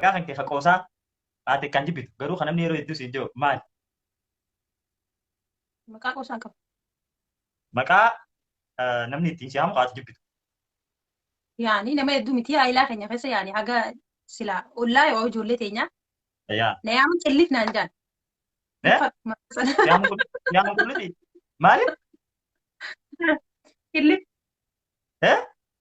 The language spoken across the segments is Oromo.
Xiqqaa kan kee ka qoosaa haa xiqqaan jibbitu garuu kan namni yeroo hedduu siin jiru maali? Maqaa qoosaa hin qabu. Maqaa eh, namni ittiin si haamu ka ati jibbitu. Yaani nama hedduu miti haayilaa keenya keessa yaani haga silaa ollaa yoo ijoollee teenyaa Yaa. na yaamu qillit naan jaan. Eh? Muka- maqaa sana. Yaamu qul- yaamu qulliti. Maali? Qillit. Eh?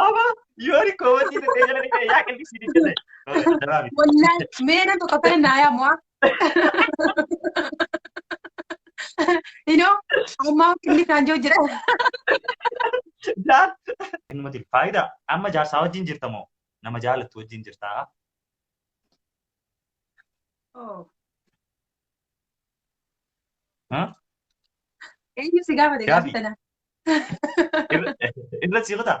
Ama yoori koobatii dhaqee jala dhaqee yaa qillisi dhaqee ta'e. Daraa miti. Wallahi mee namtu qabbana naa yaamu haa. Inoo ammaa qilli isaan jiru jira. Jaan. Innumati faayidaa amma jaarsaa wajjin jirta moo nama jaalattu wajjin jirtaa? Haa? Eenyu si gaafate Gaafi. gaafa sana? Irra- Irra si kutaa?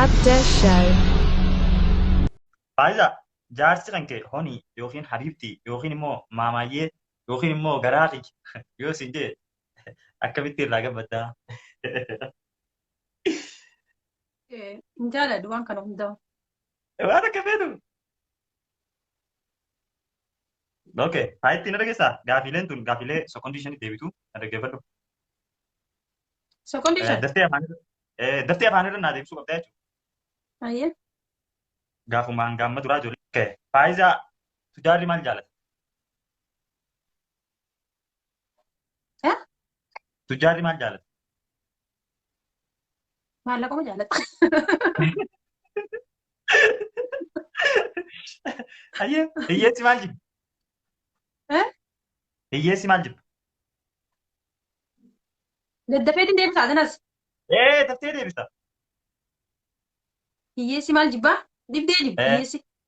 Abda Show. Faayiza jaarsi kan kee honii yookiin habiibtii yookiin immoo maamaayyee yookiin immoo garaa kiyya yoo siin jee akkamitti irraa gabbaddaa? Hin jaaladhu waan kana hundaa. Waan akka feetu. Okay, haa ittiin na dhageessaa. Gaafiileen tun gaafiilee sekondii shanitti deebitu na dhaggeeffadhu. Sekondii shan. Daftee afaan irra eh, daftee afaan irra naa deebisuu qabdaa jechuudha. Ayyee. Gaafumaan gaamma duraa ijoollee. Okay, Faayizaa tujaarri maal jaalata? Eh? Tujjaarri maal jaalata? Maallaquma jaalata. Ayyee hiyyeessi maal jibba? Eh? Hiyyeessi maal jibba? Daddafeetiin deebisaa kanas. Ee tattee deebisa. Hiyyeessi maal jibbaa? Dhibdee jibba Eh. hiyyeessi.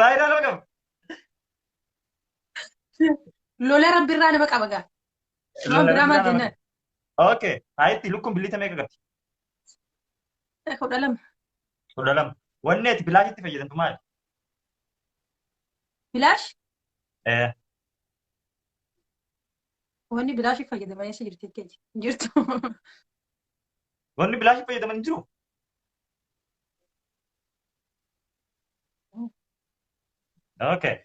Vaayiraal nama qaba. Lola rabbi irraa nama qaba gaa. Waan biraa maal jennaan? Okay. Haayitti lukkuun billiita meeqa qabdi? Kudha lama. Kudha lama. Wanni ati bilaashitti fayyadamtu maali? Bilaash Eh, wanni bilaashiif fayyadaman eessa jirti jechuudha. Hin jirtu. Wanni bilaashitti fayyadaman hin jiru. Okay.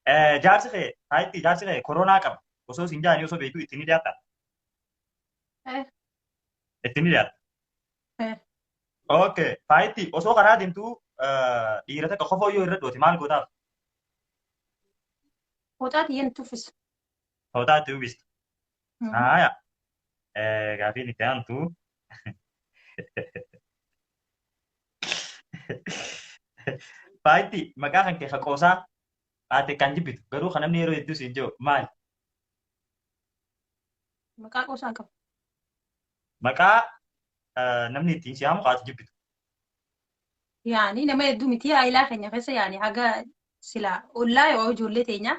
Eh, Jaarsi kee taayippii jaarsi kee koronaa qaba. Osoo isin jaanii osoo beektuu ittiin ni dhiyaata. Eh. Ittiin ni dhiyaata. Eh. Okay. Taayippii osoo karaa deemtuu eh, dhiira takka kofoo yoo irra dhoote maal gootaaf? Hooxaati yen tuffisa. Hootaa itti uwwista. Hmm. Haaya. Eh, Gaafiin itti aantu. Faayitti maqaa kan kee haqoosaa haate kan jibbitu garuu kan namni yeroo hedduu siin jiru maali? Maqaa qoosaa qabu. Maqaa eh, namni ittiin si haamu haate jibbitu. Yaani nama hedduu miti haayilaa keenya keessa yaani haga silaa ollaa yoo ijoollee teenyaa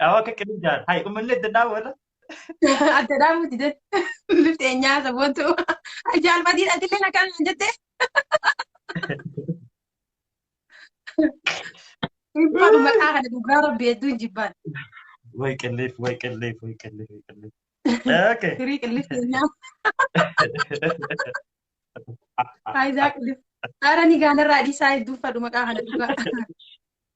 Dhawa akka qilin jaan. Hai umillee itti dhaabu irra. Adda dhaabuu dide. Bifti eenyaa saboontu. Jaalbatiin atilleen akkaan hin jette. Dhibbaadhu maqaa kana dhugaa rabbi hedduu hin jibbaan. Wai qilleef wai qilleef wai qilleef wai qilleef. Okay. Firii qillif keenyaa. Faayidaa qillif. Haara ni gaanarraa dhiisaa hedduu fadhu maqaa kana dhugaa.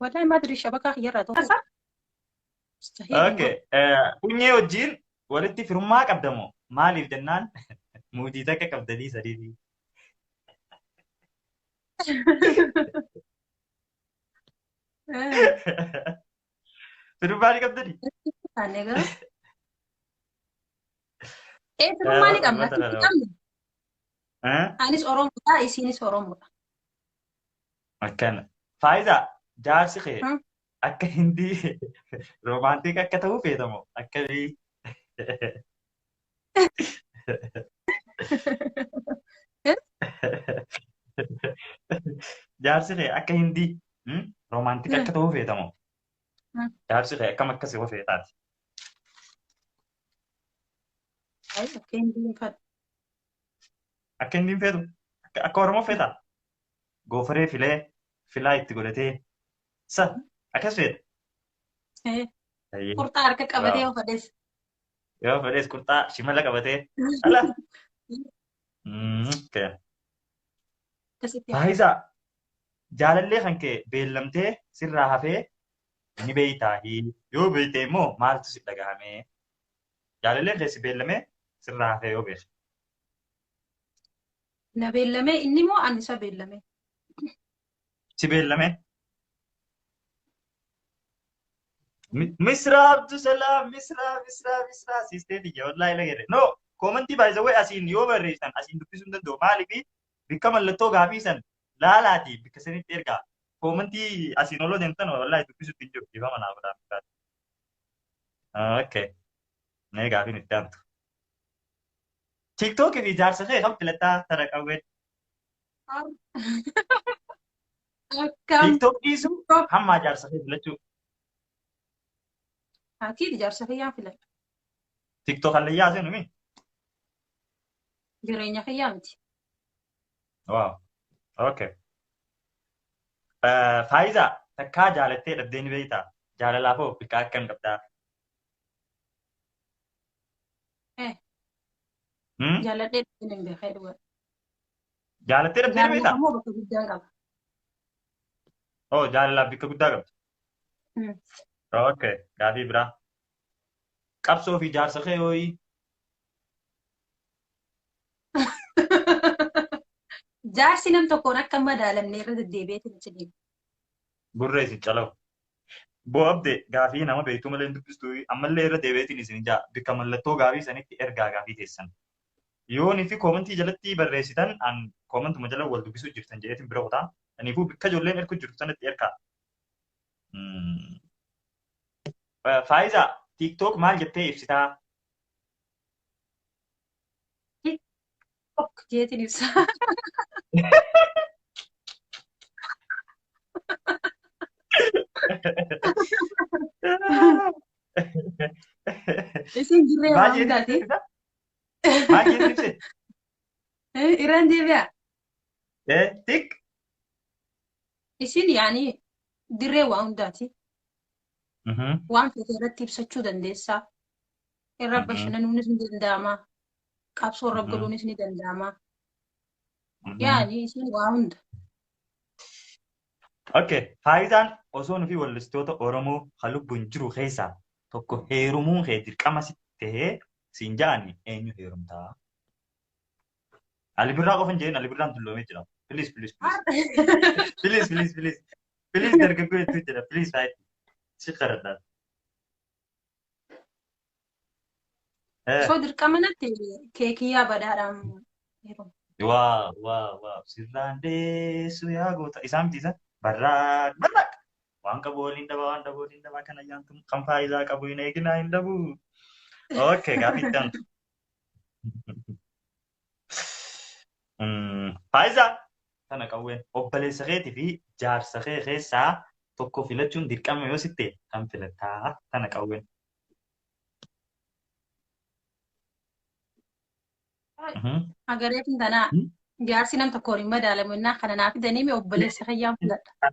Wallahi maa dirii shabakaa kiyyarraa tokko. Asa? Mustahil Okay. dhugaa. eh, Funyee wajjin walitti firummaa qabda moo? Maaliif jennaan muudii takka qabdanii sadiitii. Eh, Firummaa ni qabdanii? taanee garuu. Eh, firummaa ni qabna. Uummata Hin dhala. qabne. Eh? Anis Oromoodha, isiinis Oromoodha. Akkana. Faayiza jaarsi kee Hmm. akka hindi roomaantiik akka ta'uu feeta moo akkamii? Jaarsi kee akka hindi hmm, roomaantiik Hmm. akka ta'uu feeta moo? Hmm. Jaarsi kee akkam akka si hofeetaati? Ayi, akka hin diinfadhu. Akka hindi hin feetu? Akka akka Oromoo feeta? goofaree filee filaa itti godhatee sa akkas feeta. Eh, Ayyee. Qurxaa harka qabatee Waaw. of adeessa. Yoo fedhees qurxaa shimala qabatee ala. Mm, kee. Akkasitti haasa. Faayisaa jaalallee kan kee beellamtee sirraa hafee ni beektaa yoo beekte immoo maaltu si dhagahame jaalalleen kee si beellamee sirraa hafee yoo beekte. Na beellamee inni moo ani isa beellamee? Si beellamee. Mi- Misraa Abdusalaam, Misraa, Misraa, Misraa, siistee tiyya wallaahi lagere. No, koomantii by the way asiin yoo barreessan asiin dubbisuu hin danda'u. Maaliif bakka mallattoo gaafii san laalaatii bakka sanitti ergaa. Koomantii asiin oloo deemtan wallaahi dubbisuutti hin jiru. Dhiifama naaf godhaa. Okay. Mee gaafiin itti aantu. TikTok fi jaarsa kee kan filataa tara qawween. Akkam TikTok dhiisu hammaa jaarsa kee filachuu. akii ijaarsa kiyyaa filata. TikTok hallayyaa seenu mi? Jireenya kiyyaa miti. Waaw. Okay. Faayiza takkaa jaalattee dhabdeen beektaa? Jaalalaaf hoo biqaa akkam qabdaa? Eh, Hmm? jaaladhee dhabdeen hin beekne dhugaa. Jaalattee dhabdee Jaalala beektaa? immoo bakka guddaan qaba. Oo jaalalaaf bakka guddaa qabdi. Hmm. Ok, gaafii biraa. Qabsoo fi jaarsa kee hooyi. Jaarsi nam tokkoon akka hin madaalamne irra deddeebi'eetiin achi deema. Gurra isin calawu. Boo abde gaafii nama beektuu malee hin dubbistu ammallee irra deebi'eetiin isin ja'a bikka mallattoo gaafii sanitti ergaa gaafii teessan. Yoo nifi koomentii jalatti barreessitan an koomentuma jala wal dubbisuu jirtan jedheetiin bira kutaa aniifuu bikka ijoolleen erkuu jirtu sanatti erkaa. Faayiza tiktok maal jettee ibsitaa? Ok jeetiin ibsa. Isin jirree Maal waan jeetiin taate. ibsita? Maal jeetiin ibsita? Irraan deebi'a. Eh, tik. Isin yaani dirree waa hundaati. Mhm. Waan feete irratti ibsachuu dandeessaa. Irra Aha. bashannanuunis ni danda'ama. Qabsoo irra Aha. galuunis ni danda'ama. Aha. Yaani isin waa hunda. Okay. Faayidaan osoo nufi wallistoota Oromoo kan lubbuun jiru keessaa tokko heerumuun kee dirqama si ta'ee siin ja'ani eenyu heerumtaa? Alibirraa qofa hin jedhin Alibirraan dulloomee jira. Please please please. Please please please. Please dargaggoo hedduu jira. Please faayid. Si kadhadhaa. Eh, Osoo dirqama natti keekiyyaa badhaadhaan yeroo. waa, waa, waa. Sirraan deessu yaa goota. Isaa miti isa. Barraaq, barraaq. Waan qabu waliin dhabaa, waan dhabu waliin dhabaa. Kan ayyaantu kan faayidaa qabu hin eeginaa hin dhabu. Okay, gaaffii itti aantu. Faayiza tana qawween obboleessa keetii fi jaarsa kee keessaa tokko filachuun dirqama yoo sitte kan filattaa tana qawween. Agareetiin tanaa jaarsi nam tokkoon hin madaalamu innaa kana naa fidanii mee obboleessa keeyyaan filadha.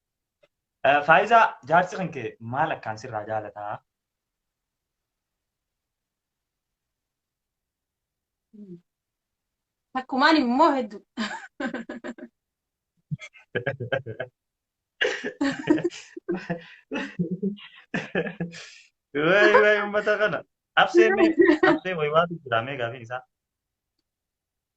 Faayizaa jaarsi kan kee maal akkaan sirraa jaalataa? Takkumaan immoo hedduu. Wayi wayi uummata kana. Absee mee absee wayi waatu jira mee gaafiin isaa.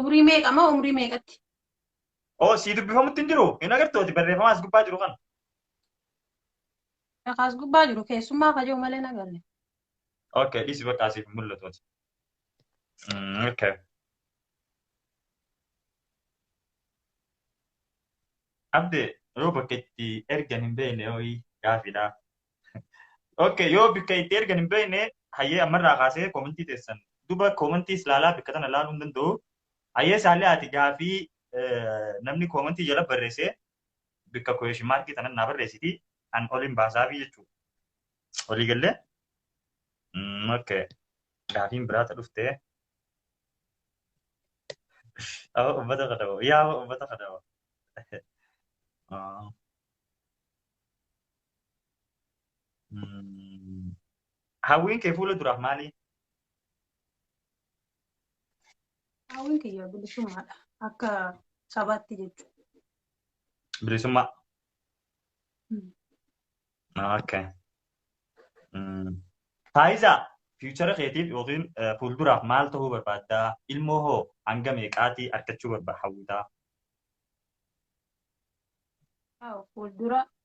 Umrii meeqa moo umrii meeqatti? Oo sii dubbifamutti hin jiru hin agartooti barreeffama as gubbaa jiru kana. Dhakaas gubbaa jiru keessummaa kajoo malee hin agarre. Okay dhisi bakka asiif hin mul'atuuti. Mm, Okay. Abde yoo bakka itti ergan hin beekne ho'i gaafidha. Okay, yoo bakka itti ergan hin beekne hayyee ammarraa kaasee koomentii teessan duba koomentii ilaalaa bakka tana ilaaluu hin danda'u. Hayyee isaallee ati gaafii eh, namni koomentii jala barreesse bakka kooyeshin maarkii tanan naa barreessiti an oliin baasaafi jechuudha. Olii gallee? Mm, okay. Gaafiin biraa ta dhufte. Aba ummata kadhawa. Yaa aba ummata kadhawa. Ah. Mm. Hawwiin kee fuula duraaf maali? Hawwiin kiyya bilisummaadha. Akka sabaatti jechuudha. Bilisummaa. Mm. Okay. Mm. Faayisaa fiichara keetiif yookiin eh, fuulduraaf maal ta'uu barbaadda? Ilmoo hoo hanga meeqaatii argachuu barbaadda hawwitaa? Haa, Fuuldura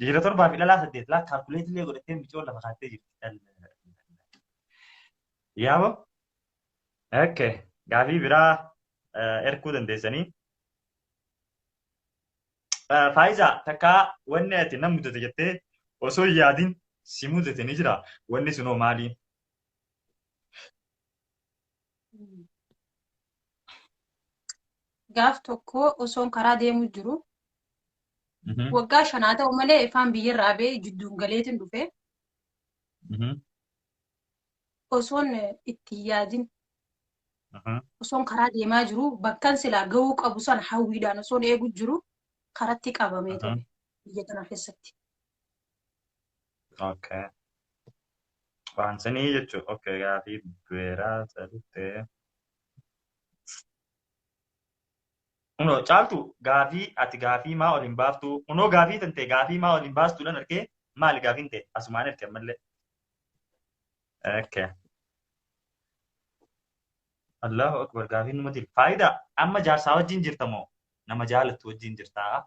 Dhiira torbaa fi dhalaa saddeet laa kaalkuleetii illee godhattee micoon lafa kaattee jirti. Yaabo? Okay. Gaafii biraa eh, erguu dandeessanii. Eh, Faayisaa takkaa wanni ati na mudate jettee osoo hin yaadin si mudate ni jira. Wanni sunoo maali? gaaf tokko osoon karaa deemuu jiru Mhm, waggaa shan haa ta'u malee ifaan biyyarra abee jidduun galeetiin dhufe mhm, osoon itti hin yaadin aha, osoon karaa deemaa jiru bakkan silaa ga'uu qabu san hawwiidhaan osoon eegu jiru karatti qabamee aha, ture biyya kana keessatti. Okay. Waansinii jechuun okay gaafii beeraa sadittee. Kunoo caaltu gaafii ati gaafii maa ol hin baaftu kunoo gaafii tantee gaafii maa ol hin baastuudhaan argee maali gaafiin tee asumaan erge ammallee. Okay. Allahu akbar gaafiin numa dil. Faayidaa amma jaarsaa wajjin jirta moo nama jaalattu wajjin jirtaa?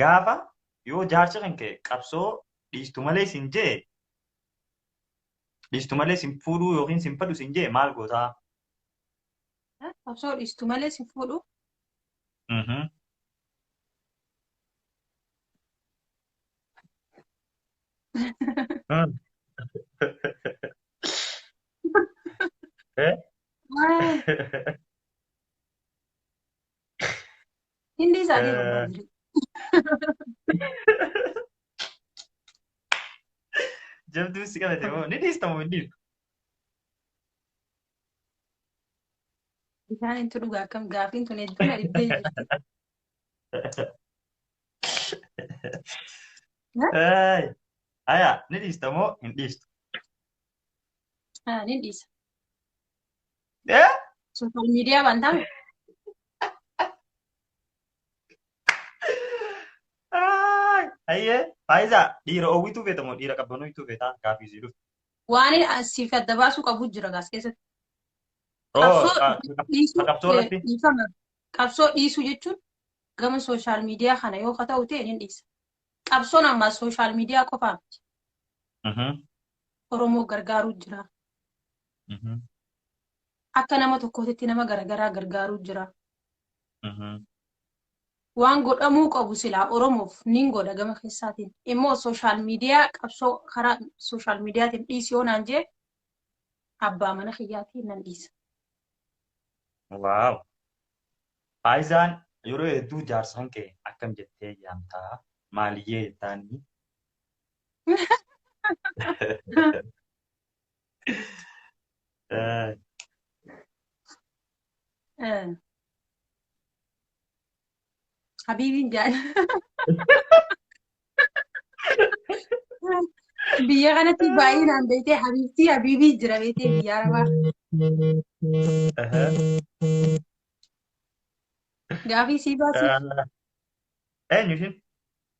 Gaafa yoo jaarsi kan ka'e qabsoo dhiistu malee sin jee dhiistu malee sin fuudhuu yookiin sin fedhu sin jee maal gootaa? Qabsoo dhiistu malee sin fuudhuu. Hindi isaa deemu Eh. baay'ee. Jabduun si qabate moo ni dhiistamu hin dhiistu. Bishaan intu dhugaa akkam gaafiin tun hedduu na dhibbee jirti. Ay, Aya ni dhiistamu hin dhiistu. Ah, nin dhiisa. Eh? Social media waan ta'an Ay, Ayyee, faayisaa dhiira oowwituu feeta moo dhiira qabbanooytuu feeta gaafii sii dhufu. waan siif adda baasuu qabu jira gaas keessatti. Oo, Qabsoo ka- ka- dhiisuu ka qabsoo irratti? dhiifama. Qabsoo dhiisuu jechuun gama social media kana yoo ka ta'u ta'e nin dhiisa. Qabsoon ammaa social media qofaa miti. Mhm. Oromoo gargaaruu jira. Mhm. Akka nama tokkootitti nama garagaraa gargaaruu jira. Mhm. Waan godhamuu qabu silaa Oromoof niin godha gama keessaatiin. Immoo sooshaal miidiyaa qabsoo karaa sooshaal miidiyaatiin dhiisi yoo naan jee abbaa mana kiyyaatiin nan dhiisa. Waaw. Faayizaan yeroo hedduu jaarsaan kee akkam jettee yaamtaa maaliyyee jettaanii Eh, Eh, Habiibiin jaal. Biyya kanatti baay'inaan beektee habiibtii habiibii jira beektee biyya arabaa. aha. Gaafii sii baasuuf. Eh, Eenyu ishin?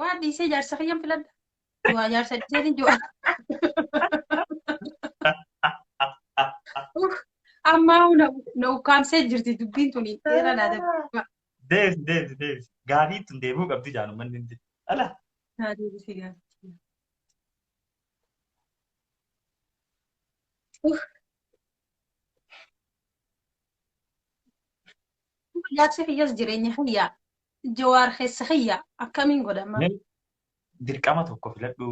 Waa dhiisee jaarsa kiyyan filadha. Waa jaarsa dhiisee jiwa. Ammaa na na ukkaamsee jirti dubbiin tuni dheera naa dabala. Deebisi deebisi deebisi. Gaafii tun deebi'uu qabdi jaan uummanni hundi. Ala. Naa deebisee gaafatti. Jaarsi kiyyas jireenya kiyyaa jawaar keessa kiyyaa akkamiin godhama? Mee dirqama tokko filadhu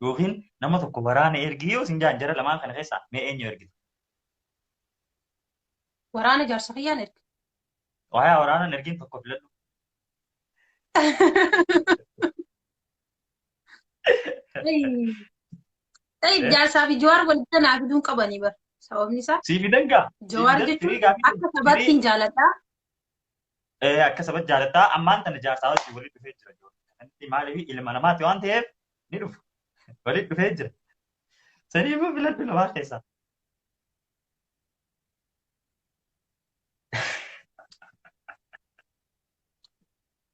yookiin nama tokko waraana ergi yoo isin jaan jara lamaan kana keessaa mee eenyu ergita? Waraana jaarsa kiyyaan erga. Waayaa waraanaan ergiin tokko filadhu. Ta'i jaarsaa fi jawaar walitti naa fiduun qabanii bara. Sababni isaa Sii fidan gaa. jawaar Sii fidan, jechuun firii gaa fidan. akka sabaatti Firii- hin jaaladhaa. Eh, akka sabatti jaalattaa ammaan tana jaarsaa wajjin walitti dhufee jira. Inni Maaliif ilma namaati waan ta'eef ni dhufu. Walitti dhufee jira. Saniifuu filadhu lamaan keessaa.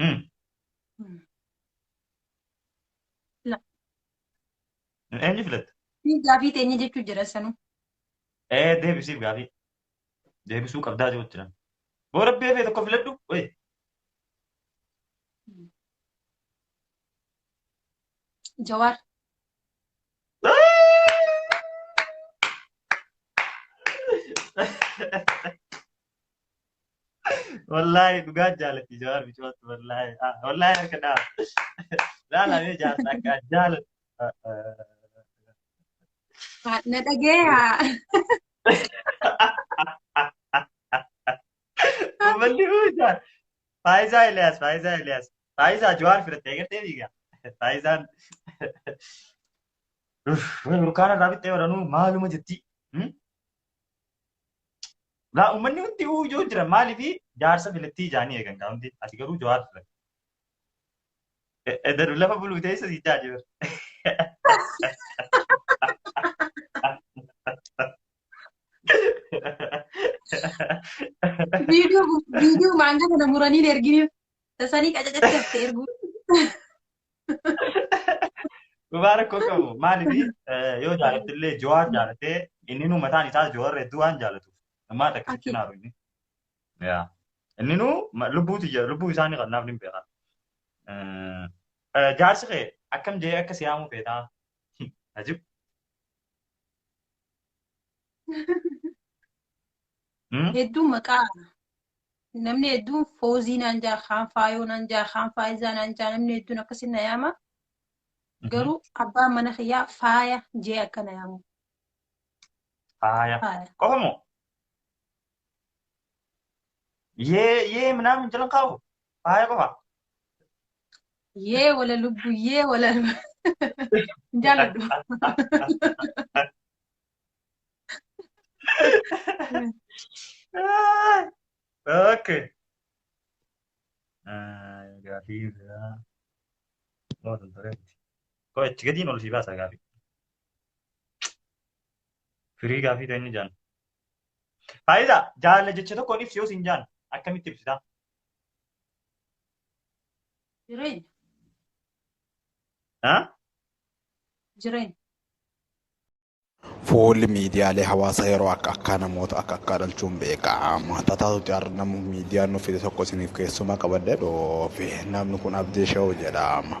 Hmm. La. Eenyu filatta? Ni gaafii teenya jechuu jira sanuu. Ee deebisiif gaafii. Deebisuu qabdaa jiru jira. Boo rabbi hafee tokko filadhu. Wayii. Jawaar. Wallaahi dhugaa jaalatti jawaar bicooti wallaahi ah, wallaahi harka dhaaba. Laalamee jaarsa akka jaalatti. Ha- Na dhagayaa. Uummanni huuchaa. Faayizaa Eliyaas, Faayizaa Eliyaas. Faayizaa Jawaar firattee gartee dhiiga. Faayizaan. Uff, Burkaana irraa bittee waranuu maaluma jetti. Hmm? Gaa uummanni hundi uu ijoo jira maaliif jaarsa filattii ijaanii eegan gaa hundi ati garuu jawaar filatte. Edaru lafa buluu teessa si jaaji bara. Viidiyoo viidiyoo maangaa kana muranii erginiif tasanii qacacachatte erguu. Dhugaa rakkoo qabu. Maaliif yoo jaalatte illee Jawaar jaalattee inni nu mataan isaa Jawaar hedduu waan jaalatuuf. Ammaa takka sitti naaru inni. Yaa. Inni nu lubbuutu jira lubbuu isaanii kan naaf ni beekaa. Jaarsi kee akkam jee akka siyaamuu feetaa? Ajib. Hmm? Hedduun maqaa namni hedduun foozii naan jaa, kaan faayoo naan jaa, kaan faayizaa naan jaa, namni hedduun akkasii na yaama. Garuu abbaan mana kiyyaa faaya jee akka na yaamu. Faaya. Faaya. Qofa moo? Yee yee minaan hin jiran qabu. Faaya qofa. Yee wala lubbu, yee wala hin jaaladhu. Okay. Ah, gaafii biraa. Moo tan tureetti. Koo itti gadiin ol sii baasa gaafii. Firii gaafii ta'e inni jaan. Faayidaa jaalala jecha tokkoon ibsi yoo siin jaan akkamitti ibsitaa? Jireenya. Haa? Jireenya. Fuulli miidiyaalee hawaasaa yeroo akka akkaa namoota akka akkaa dhalchuun beekama. Tataatutti har'a nama miidiyaan nuuf fide tokko isiniif keessumaa qabadhee dhoofe. Namni kun Abdii Shehu jedhama.